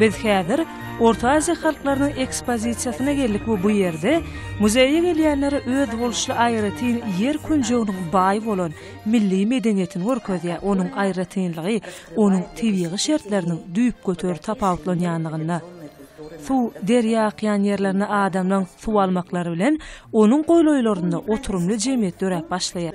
Biz häzir Orta Aziýa halklarynyň ekspozisiýasyna geldik we bu ýerde muzeýe gelýänlere özboluşly aýratyn ýer künjeginiň baý bolan milli medeniýetini görkezýär, onuň aýratynlygy onuň tebigy şertleriniň düýpgöter tapawutlanýanlygynda. Suw, derýa akýan ýerlerinde adamlaň suw almaklary bilen onuň golaýlarynda oturymly jemgyýet döräp başlaýar.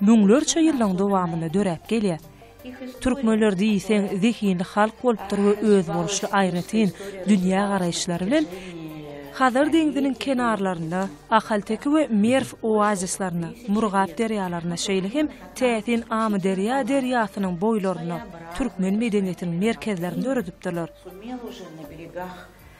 Müňlerçe ýyllaň dowamynda döräp gelýär. Türkmenler diýseň zehinli halk bolupdyr we özboluşly aýratyn dünýä garaýyşlary bilen Hazar deňziniň kenarlarynda, Ahalteke we Merw oazislerinde, Murgap derýalarynda şeýle hem täsin Amyderýa derýasynyň boýlarynda türkmen medeniýetiniň merkezlerini döredipdirler.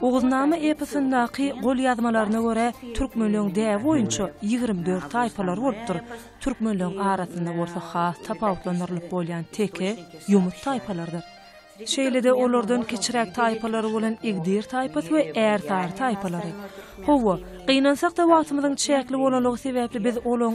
Oguznama eposyndaky golýazmalaryna görä, türkmenleň däbi boýunça ýigrimi dört taýpalary bolupdyr, türkmenleň arasynda bolsa has tapawutlandyrylyp bolýan teke, ýomut taýpalarydyr. Şeýle-de olardan kiçiräk taýpalary bolan igdir taýpasy we ärsary taýpalary. Hawa, gynansak-da wagtymyzyň çäkli bolanlygy sebäpli biz olaň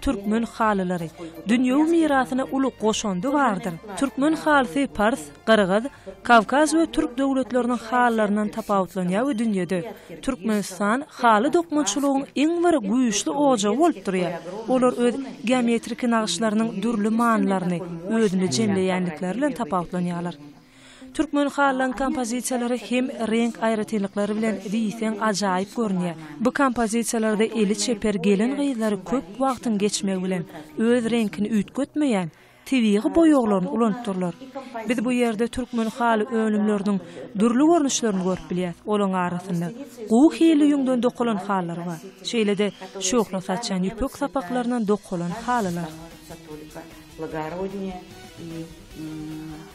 türkmen halylary, dünýewi mirasyna uly goşandy bardyr. Türkmen halysy pars, gyrgyz, kawkaz we türk döwletleriniň halylaryndan tapawutlanýar we dünýede Türkmenistan haly dokmaçylygyň iň bir güýçli ojagy bolup durýar. Olar öz geometriki nagyşlarynyň dürli manylaryny özünde jemleýändikleri bilen tapawutlanýarlar. Türkmen halylaryň kompozisiýalary hem reňk aýratynlyklary bilen diýseň ajaýyp görünýär. Bu kompozisiýalarda eli çeper gelin-gyzlar köp wagtyň geçmegi bilen, öz reňkini üýtgetmeýän, tebigy boýaglaryny ulanypdyrlar. Biz bu ýerde türkmen haly önümleriniň dürli görnüşlerini görüp bilýäs, olaryň arasynda gowy hilli ýüňden dokalan halylar bar, şeýle-de şöhle saçýan ýüpek sapaklaryndan dokalan halylar.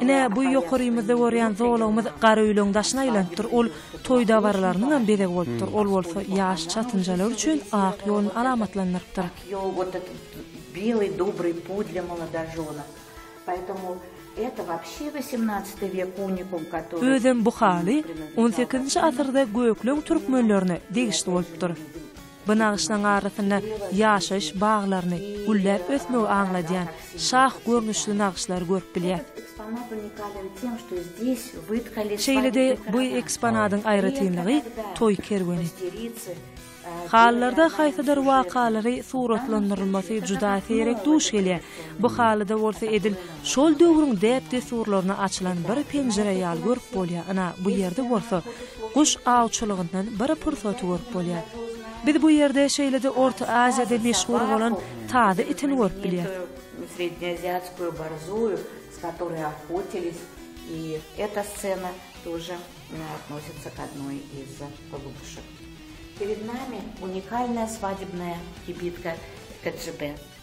Ine, bu ýokarymyzda görýän zolagymyz Garaöýlüň daşyna aýlanypdyr. Ol toý dabaralarynyňam bezegi bolupdyr. Ol bolsa ýaş çatynjalar üçin ak ýoluny alamatlandyrypdyr. Özem bu haly on sekizinji asyrda gökleň türkmenlerine degişli bolupdyr. Bu nagyşlaryň arasynda ýaşaýyş baglaryny, gülläp ösmegi aňladýan şah görnüşli nagyşlary görüp bilýäris. Şeýle-de, bu eksponadyň aýratynlygy toý kerweni. Halylarda haýsydyr wakalary suratlandyrylmasy juda seýrek duş gelýär. Bu halyda bolsa edil şol döwrüň däp-dessurlaryna açylan bir penjire ýaly görüp bolýar, ynha, bu ýerde bolsa guş awçylygyndan bir pursaty görüp bolýar. Biz bu ýerde şeýle-de Orta Aziýada meşhur bolan tazy itini görüp bilýäris.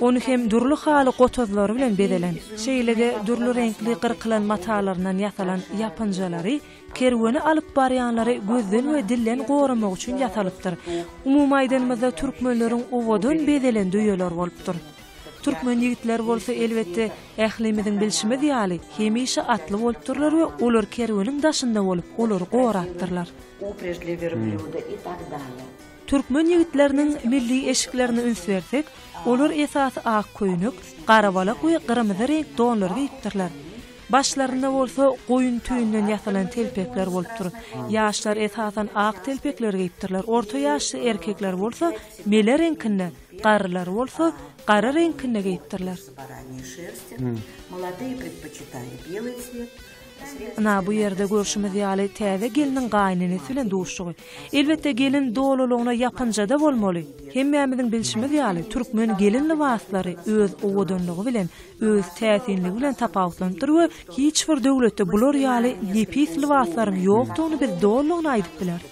Ony hem dürli haly gotazlary bilen bezelen, şeýle-de dürli reňkli gyrkylan matalaryndan ýasalan ýapynjalary kerweni alyp barýanlary gözden we dilden goramak üçin ýasalypdyr. Umumy aýdanymyzda türkmenleriň owadan bezelen düýeler bolupdyr. Türkmen ýigitleri bolsa elbetde ählimiziň bilşimiz ýaly hemişe atly bolupdyrlar we olar kerweniň daşynda bolup olary gorapdyrlar. Türkmen ýigitleriniň milli eşiklerine üns bersek, olar esasy ak köýnek, garabalak we gyrmyzy reňk donlary geýipdirler. Başlarynda bolsa goýun tüýünden ýasalan telpekler bolupdyr. Ýaşlar esasan ak telpekleri geýipdirler, orta ýaşly erkekler bolsa mele reňkinde, garrylar bolsa gara reňkinde geýipdirler. Ynha, bu ýerde görşümiz ýaly täze gelniň gaýynenesi bilen duşuşygy. Elbetde, gelin dolulygyna ýapynja-da bolmaly. Hemmämiziň bilşimiz ýaly, türkmen gelin lybaslary öz owadanlygy bilen, öz täsinligi bilen tapawutlanypdyr we hiç bir döwletde bular ýaly nepis lybaslaryň ýokdugyny biz dolulygyna aýdyp bileris.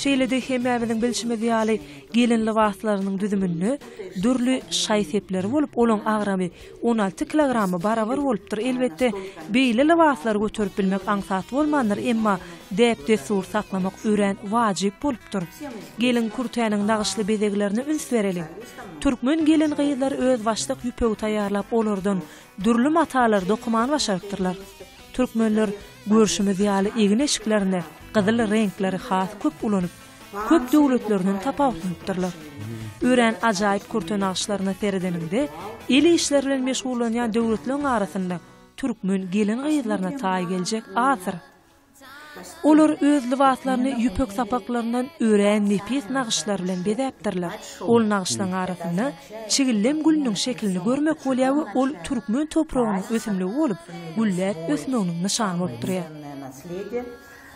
Şeýle-de, hemmämiziň bilşimiz ýaly, gelin lybaslarynyň düzüminde dürli şaý-sepleri bolup, olaň agramy On alty kilograma barabar bolupdyr, elbetde, beýle lybaslary göterip bilmek aňsat bolmandyr, emma däp-dessur saklamak örän wajyp bolupdyr. Gelin kürtäniň nagyşly bezeglerine üns bereliň. Türkmen gelin-gyzlary özbaşdak ýüpegi taýýarlap, olardan dürli matalary dokamany başarypdyrlar. Türkmenler, görşümiz ýaly, egin-eşiklerinde gyzyl reňkleri has köp ulanyp, köp döwletlerinden tapawutlanypdyrlar. Örän ajaýyp kürte nagyşlaryna seredeniňde, el işleri bilen meşgullanýan döwletleriň arasynda türkmen gelin-gyzlaryna taý geljek azdyr. Olar öz lybaslaryny ýüpek sapaklaryndan örän nepis nagyşlar bilen bezäpdirler. Ol nagyşlaryň arasynda çigellem gülüniň şekilini görmek bolýar we ol türkmen topragynyň ösümligi bolup, gülläp ösmeginiň nyşany bolup durýar.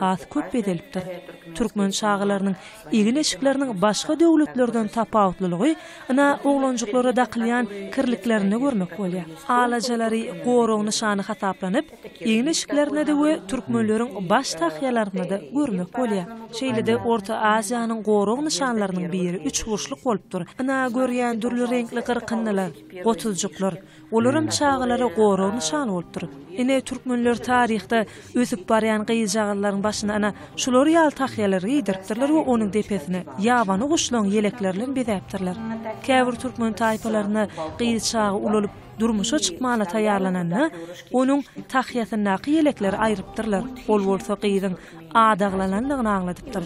has köp bezelipdir. Türkmen çagalarynyň egin-eşikleriniň başga döwletlerden tapawutlylygy ina oglanjyklara dakylýan kirliklerinde görmek bolýar. Alajalary gorag nyşany hasaplanyp, egin-eşiklerinde-de we türkmenleriň baş tahýalarynda-da görmek bolýar. Şeýle-de Orta Aziýanyň gorag nyşanlarynyň biri üçburçluk bolupdyr, ina görýän dürli reňkli gyrkyndylar, gotuljyklar, Olaram çagalara gorag nyşan bolupdyr. Ine, türkmenler taryhda ösüp barýan gyzjagazlaryň başyna ana şular ýaly tahýalary geýdiripdirler we onuň depesini ýabany guşlaryň ýelekleri bilen bezäpdirler. Käbir türkmen taýpalarynda gyz çaga ulalyp, durmuşa çykmana taýýarlananda, onuň tahýasyndaky ýelekleri aýrypdyrlar, ol bolsa gyzyň adaglanandygyny aňladypdyr.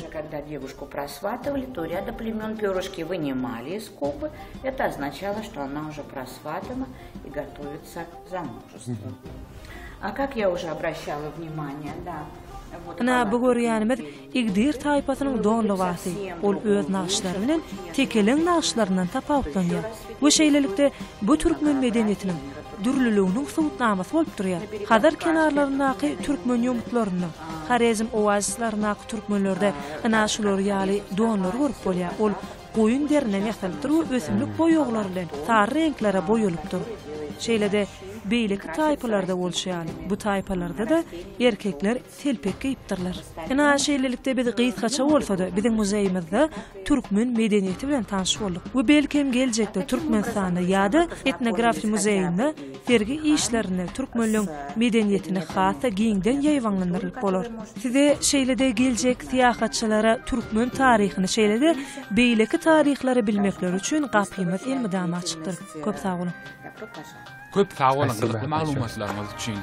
Ynha, bu görýänimiz Igdir taýpasynyň don lybasy. Ol öz nagyşlary bilen tekeleň nagyşlaryndan tapawutlanýar we şeýlelikde, bu türkmen medeniýetiniň, dürlüliginiň subutnamasy bolup durýar. Hazar kenarlaryndaky türkmen ýomutlarynda, Horezm oazislerindäki türkmenlerde ynha şular ýaly donlary görüp bolýar, ol goýun deriden ýasalypdyr we ösümlik boýaglary bilen sary reňklere boýalypdyr. Şeýle-de beýleki taýpalarda bolşy ýaly, bu taýpalarda-da erkekler telpek geýipdirler. Ynha, şeýlelikde biz gysgaça bolsa-da biziň muzeýimizde türkmen medeniýeti bilen tanyş bolduk we belki hem geljekde Türkmenistanda ýa-da Etnografiýa muzeýinde sergi işlerinde türkmenleň medeniýetini has-da giňden ýaýbaňlandyryp bolar. Size şeýle-de geljek syýahatçylara türkmen taryhyny şeýle-de beýleki taryhlary bilmekleri üçin gapymyz elmydama açykdyr. Köp sag boluň! Köp sag boluň gyzykly maglumatlaryňyz üçin.